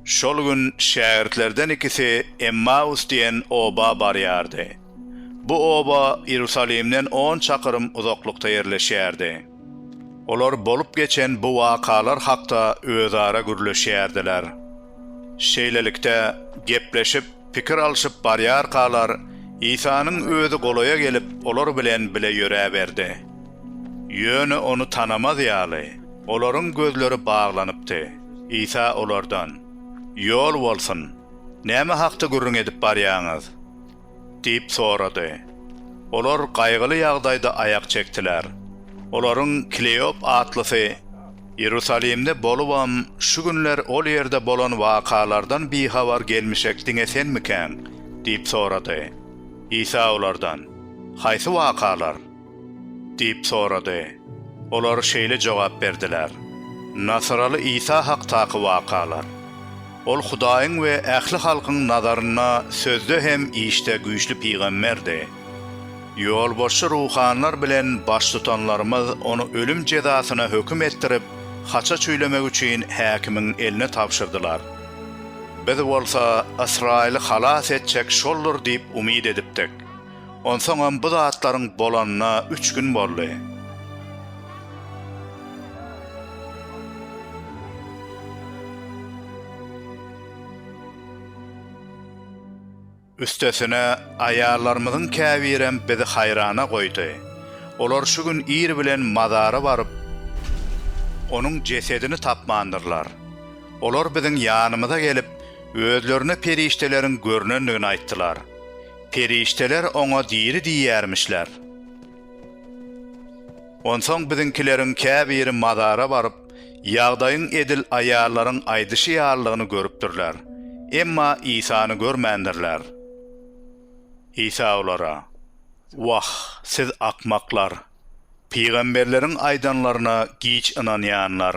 Şol gün şägirtlerden ikisi Emmaus diýen oba barýardy. Bu oba Iýerusalimden on çakyrym uzaklykda ýerleşýärdi. Olar bolup geçen bu wakalar hakda özara gürleşýärdiler. Şeýlelikde, gepleşip, pikir alşyp barýarkalar, Isanyň özi golaýa gelip, olar bilen bile ýöräberdi. Ýöne Ony tanamaz ýaly, olaryň gözleri baglanypdy. Isa olardan, Ýol bolsun! Näme hakda gürrüň edip barýaňyz? diýip sorady. Olar gaýgyly ýagdaýda aýak çekdiler. Olaryň Kleop atlysy Iýerusalimde bolubam, şu günler ol ýerde bolan wakalardan bihabar gelmişek diňe senmikäň? diýip sorady. Isa olardan, Haýsy wakalar? Diýip sorady. Olar şeýle jogap berdiler, Nasyraly Isa hakdaky wakalar. Ol Hudaýyň we ähli halkyň nazarynda sözde hem işde güýçli pygamberdi. Ýolbaşçy ruhanylar bilen baştutanlarymyz ony ölüm jezasyna höküm etdirip, haça çüýlemek üçin häkimiň eline tabşyrdylar. Biz bolsa Ysraýyly halas etjek şoldur diýip umyt edipdik. Onsoňam bu zatlaryň bolanyna üç gün boldy. Üstesine, aýallarymyzyň käbirem bizi haýrana goýdy. Olar şu gün ir bilen mazara baryp, onuň jesedini tapmandyrlar. Olar biziň ýanymyza gelip, özlerine perişdeleriň görnendigini aýtdylar. Perişdeler oňa diri diýýärmişler. Onsoň biziňkileriň käbiri mazara baryp, ýagdaýyň edil aýallaryň aýdyşy ýalydygyny görüpdirler, emma Isany görmändirler. Isa olara, Wah, siz akmaklar! Pygamberleriň aýdanlaryna giç ynanýanlar!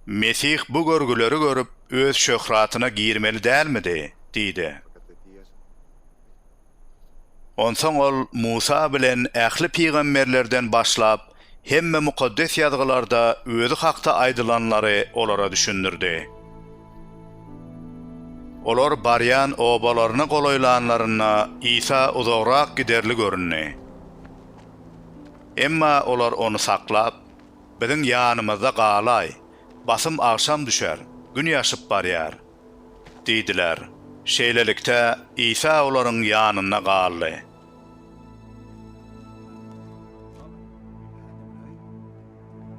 Mesih bu görgüleri görüp, Öz şöhratyna girmeli dälmidi? diýdi. Onsoň Ol Musa bilen ähli pygamberlerden başlap, hemme Mukaddes Ýazgylarda Özi hakda aýdylanlary olara düşündirdi. Olar barýan obalaryna golaýlanlarynda Isa uzagrak giderli göründi. Emma olar Ony saklap, Biziň ýanymyzda galaý, basym agşam düşer, gün ýaşyp barýar. Diýdiler. Şeýlelikde, Isa olaryň ýanynda galdy.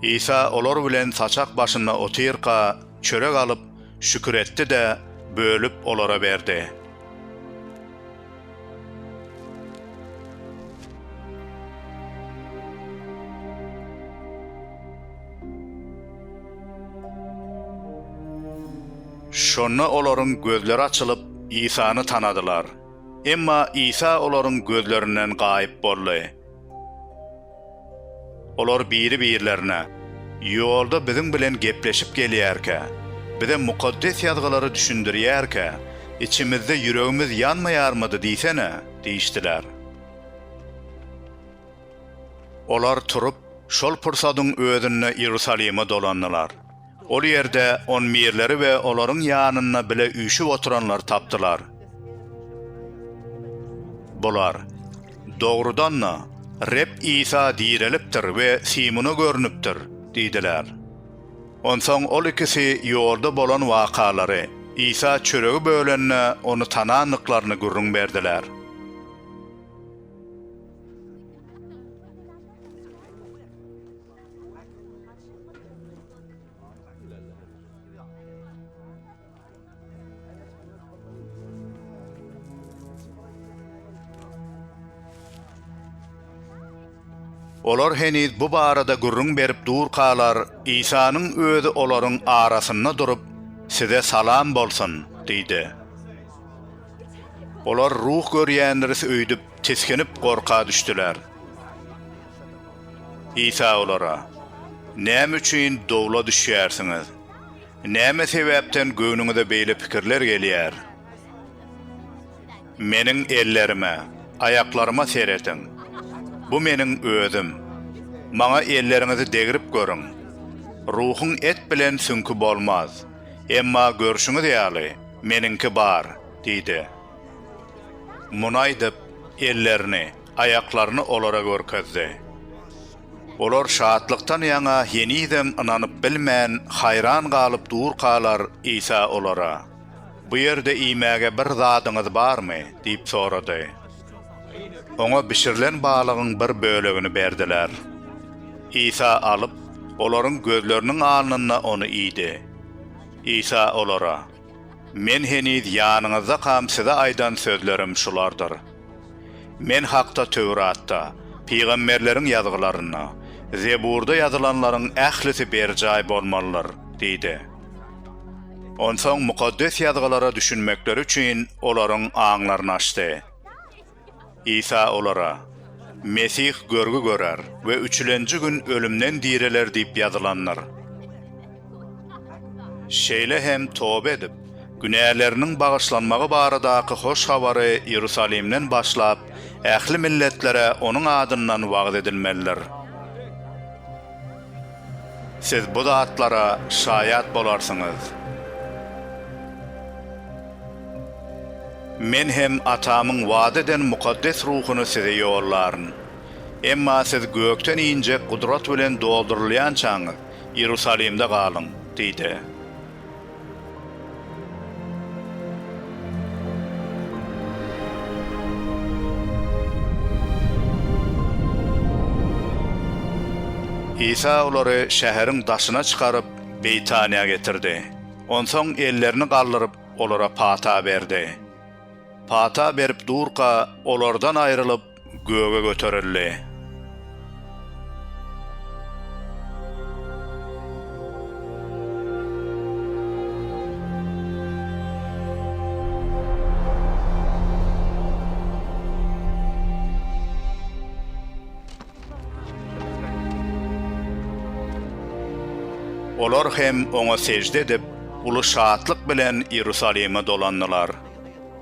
Isa olar bilen saçak başynda otyrka, çörek alyp, şükür etdi-de, bölüp, olara berdi. Şonda olaryň gözleri açylyp, Isany tanadylar. Emma Isa olaryň gözlerinden gaýyp boldy. Olar biri-birlerine, Ýolda biziň bilen gepleşip gelýärkä, bize Mukaddes Ýazgylary düşündirýärkä, içimizde ýüregimiz ýanmaýarmydy diýsene? diýişdiler. Olar turup, şol pursadyň özünde Iýerusalime dolandylar. Ol ýerde on mirleri we olaryň ýanynda bile üýşüp oturanlary tapdylar. Bular, Dogrudan-da, Reb Isa direlipdir we Simona görnüpdir diýdiler. Onsoň ol ikisi ýolda bolan wakalary, Isa çöregi bölende ony tanandyklaryny gürrüň berdiler. Olar heniz bu barada gürrüň berip durkalar, Isanyň özi olaryň arasynda durup, Size salam bolsun! diýdi. Olar ruh görýändiris öýdüp, tisginip, gorka düşdüler. Isa olara, Näme üçin dowla düşýärsiňiz? Näme sebäpden göwnüňize beýle pikirler gelýär? Meniň ellerime, aýaklaryma serediň. Bu Meniň Özüm. Maňa elleriňizi degrip görüň. Ruhuň et bilen süňki bolmaz. Emma görşüňiz ýaly, Meniňki bar diýdi. Muny aýdyp, ellerini, aýaklaryny olara görkezdi. Olar şatlykdan ýaňa henizem ynanyp bilmän, haýran galyp durkalar, Isa olara, Bu ýerde iýmäge bir zadyňyz barmy? diýip sorady. Oňa bişirilen balygyň bir bölegini berdiler. Isa alyp, olaryň gözleriniň alnynda ony iýdi. Isa olara. Men heniz ýanyňyzdakam size aýdan sözlerim şulardyr. Men hakda Töwratda, pygamberleriň ýazgylarynda, Zeburda ýazylanlaryň ählisi berjaý bolmalydyr diýdi. Onsoň Mukaddes Ýazgylara düşünmekleri üçin olaryň aňlaryny açdy. Isa olara, Mesih görgi görer we üçülenji gün ölümden direler diýip ýazylandyr. Şeýle hem toba edip, günäleriniň bagyşlanmagy baradaky hoş habary Iýerusalimden başlap, ähli milletlere onuň adyndan wagyz edilmelidir. Siz bu zatlara şaýat bolarsyňyz. Men hem Atamyň wada eden Mukaddes Ruhuny size ýollaryn. Emma siz gökden injek gudrat bilen doldurylýançaňyz, Iýerusalimde galyň diýdi. Isa olary şäheriň daşyna çykaryp, Beýtaniýa getirdi. Onsoň ellerini galdyryp, olara pata berdi. Pata berip durka, olardan aýrylyp, göge göterildi. Olar hem Oňa sežde edip, uly şatlyk bilen Iýerusalime dolandylar.